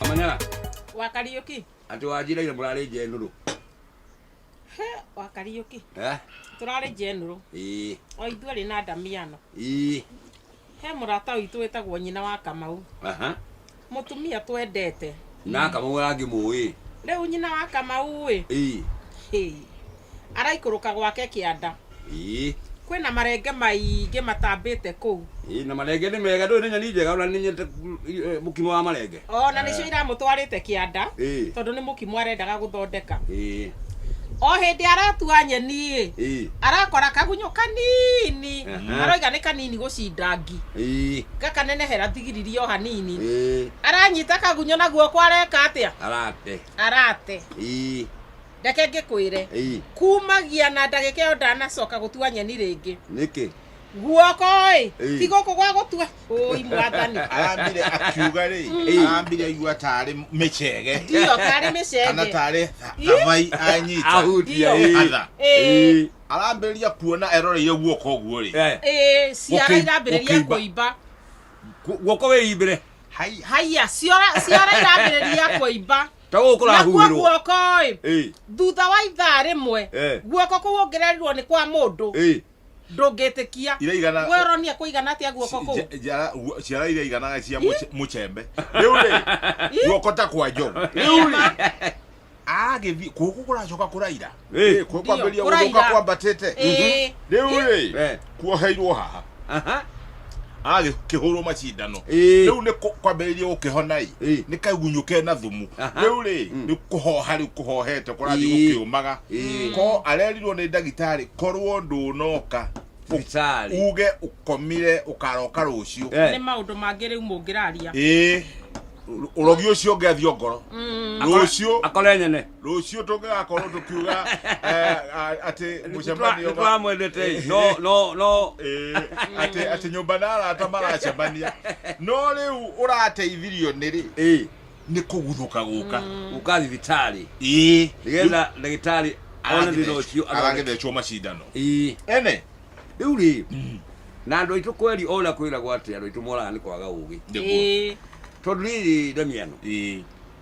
Manyara, Wa Kariuki. atĩ wanjira ira mũrarĩ njenũrũ. He, wa Kariuki. Eh? Tũrarĩ njenũrũ. Ĩĩ. O ithuĩ rĩ na ndamiano. Ĩĩ. He mũrata witũ wĩtagwo nyina wa Kamau. Aha. Mũtumia twendete. Na kamau arangĩmũĩ. Rĩu nyina wa Kamau ĩ. Ĩĩ. Hĩ. araikũrũka gwake kĩanda Ĩĩ. kwĩna marenge maingĩ matambĩte kũu Ĩĩ, na marenge nĩ mega ndũĩ nĩ nyeni njega ona nĩ nyendete mm, i- eh, mũkimo wa marenge ona nĩcio iramũtwarĩte kĩanda Ĩĩ. tondũ nĩ mũkimo arendaga gũthondeka Ĩĩ, o hĩndĩ aratua nyeni-ĩ ĩĩ, arakora kagunyũ kanini Aha. aroiga nĩ kanini gũcinda ngi ĩĩ, gakanenehera thigiriri o hanini ĩĩ, aranyita kagunyũ na guoko areka atĩa arate arate Ĩĩ. reke ngĩkwĩre Ĩĩ, kumagia na ndagĩka ĩyo ndanacoka gũtua nyeni rĩngĩ nĩkĩ guoko ĩ Ĩĩ. ti gũkũ gwa gũtua ũi mwathani arambire akiuga rĩ Mm. arambire aigua tarĩ mĩcege ndiyo tarĩ kana mĩcenge tarĩ thavai anyita ahutia Ĩĩ. ĩĩ. Atha. Ĩĩ. arambĩrĩria kuona eroreire guoko ũguo rĩ Eh, Ĩĩ, ciara Gũkĩimba- irambĩrĩria gũkĩimba. kũimba gu- guoko wĩimbĩre haiya ciara ciara irambĩrĩria kũimba ta gå kå nakuo rahuhä rwo guoko ĩ thutha wa ithaa rĩmwe Eh. guoko kũu ũngĩrerirwo nĩ kwa mũndũ ĩ ndũngĩtĩkia Iraigana- we ũronia kũigana atĩa guoko kũu Ja- njara- guo- ciara iria iganaga cia mũce- mũcembe rä u rä guoko ta kwa njogu rä u rä agä thiä kå kå kå racoka kå raira Eh, kuo kwambĩrĩria Kũraiga. gũthũka kwambatĩte Eh, rĩu rĩ eh, kuoheirwo haha aha, agĩkĩhũrwo macindano Eh. rĩu nĩ kũ- kwambĩrĩria gũkĩhona-ĩ Eh. nĩ kagunyũ kena thumu Aha. rĩu rĩ nĩ kũhoha rĩu kũhohete kũrathiĩ Eh. gũkĩũmaga Eh. ko arerirwo nĩ ndagĩtarĩ korwo ndũnoka thibitarĩ uge ũkomire ũkaroka rũciũ Eh. nĩ maũndũ mangĩ rĩu mũngĩraria ĩĩ ũrogi ũcio ũngĩathio ngoro Mm. rũciũ akore nyene rũciũ tũngĩgakorwo tũkiuga eh, a- atĩ mũcemanio wa- nĩtwamwendete no no no Eh, atĩ atĩ nyũmba na arata maracemania no rĩu ũrateithirio nĩ rĩ ĩĩ nĩ kũguthũka gũka gũka thibitarĩ ĩĩ nĩgetha ndagĩtarĩ one thĩna ũcio athondeke. aragethecwo macindano ĩĩ ene rĩu rĩ na andũ aitũ kweri ona kwĩragwo atĩ andũ aitũ moraga nĩ kwaga ũgĩ nĩguo Ĩĩ. tondũ rĩrĩ ndamiano ĩĩ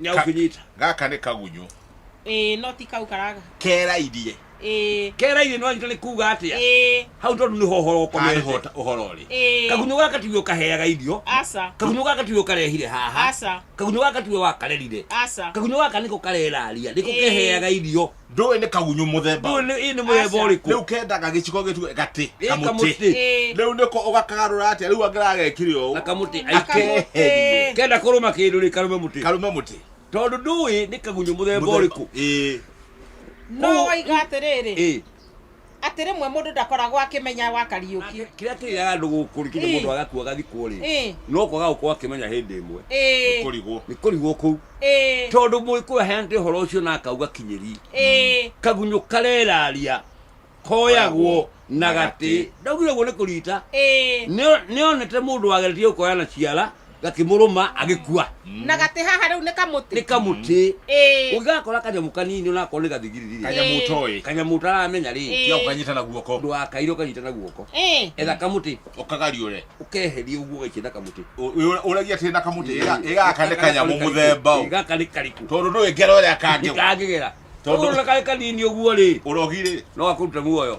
nyau Ka- kunyita gaka nĩ kagunyũ ĩĩ no ti kau karaga kerairie ĩĩ kerairie nĩ wanyita nĩ kuga atĩa ĩĩ hau tondũ nĩho ũhoro haha ũkomete nĩho ta- ũhoro ũrĩ ĩĩ kagunyũ gaka tiwe ũkaheaga irio aca kagunyũ gaka tiwe ũkarehire haha aca kagunyũ gaka tiwe wakarerire aca kagunyũ gaka nĩko kareraria nĩko Ĩĩ. keheaga irio ndũĩ nĩ kagunyũ mũthemba ndũĩ nĩ ĩĩ nĩ mũthemba Aca. ũrĩkũ rĩu kendaga gĩciko gĩtue gatĩ Ĩ, kamũtĩ kamũtĩ Ĩ. rĩu nĩko ũgakagarũra atĩa rĩu angĩra gekire ũũ na kamũtĩ Akamũtĩ. akeherie kenda kũrũma kĩndũ rĩ karume mũtĩ karume mũtĩ tondũ ndũĩ nĩ kagunyũ mũthemba ũrĩkũ Ĩ. no Ũũ- waiga atĩrĩrĩ ĩĩ atĩ rĩmwe mũndũ ndakoragwo akĩmenya wa kariũki kĩrĩa kĩrĩaga andũ gũkũ rĩ kĩndũ Ĩ. mũndũ agakua agathikwo rĩ Ĩ. no kwaga gũkorwo akĩmenya hĩndĩ ĩmwe Ĩ, kũrigwo nĩ kũrigwo kũu ĩ, tondũ mũgĩkũyũ aheanĩte ũhoro ũcio na akauga kinyĩri ĩ, kagunyũ kareraria koyagwo na gatĩ ndaugire guo nĩ kũrita ĩ, Nĩo- nĩonete mũndũ wageretie gũkoya na ciara gakĩmũrũma agĩkua na gatĩ haha rĩu nĩ kamũtĩ nĩ kamũtĩ Ĩĩ. ũngĩgakora kanyamũ kanini onakorwo nĩ gathigiriri kanyamũ ũtoĩ kanyamũ ũtaramenya rĩ Ĩĩ. tiga ũkanyita na guoko ndwakaire ũkanyita na guoko Ĩĩ. etha kamũtĩ ũkagariũre ũkeheria ũguo ũgaikia na kamũtĩ ũragia tĩrĩ na kamũtĩ ĩga- ĩgaka nĩ kanyamũ mũthemba ũ. gaka nĩ kariku tondũ ndũĩ ngero ĩrĩa kangĩgwa kangĩgera Tondũ- tondũ karĩ kanini ũguo rĩ ũrogi rĩ no akũrute muoyo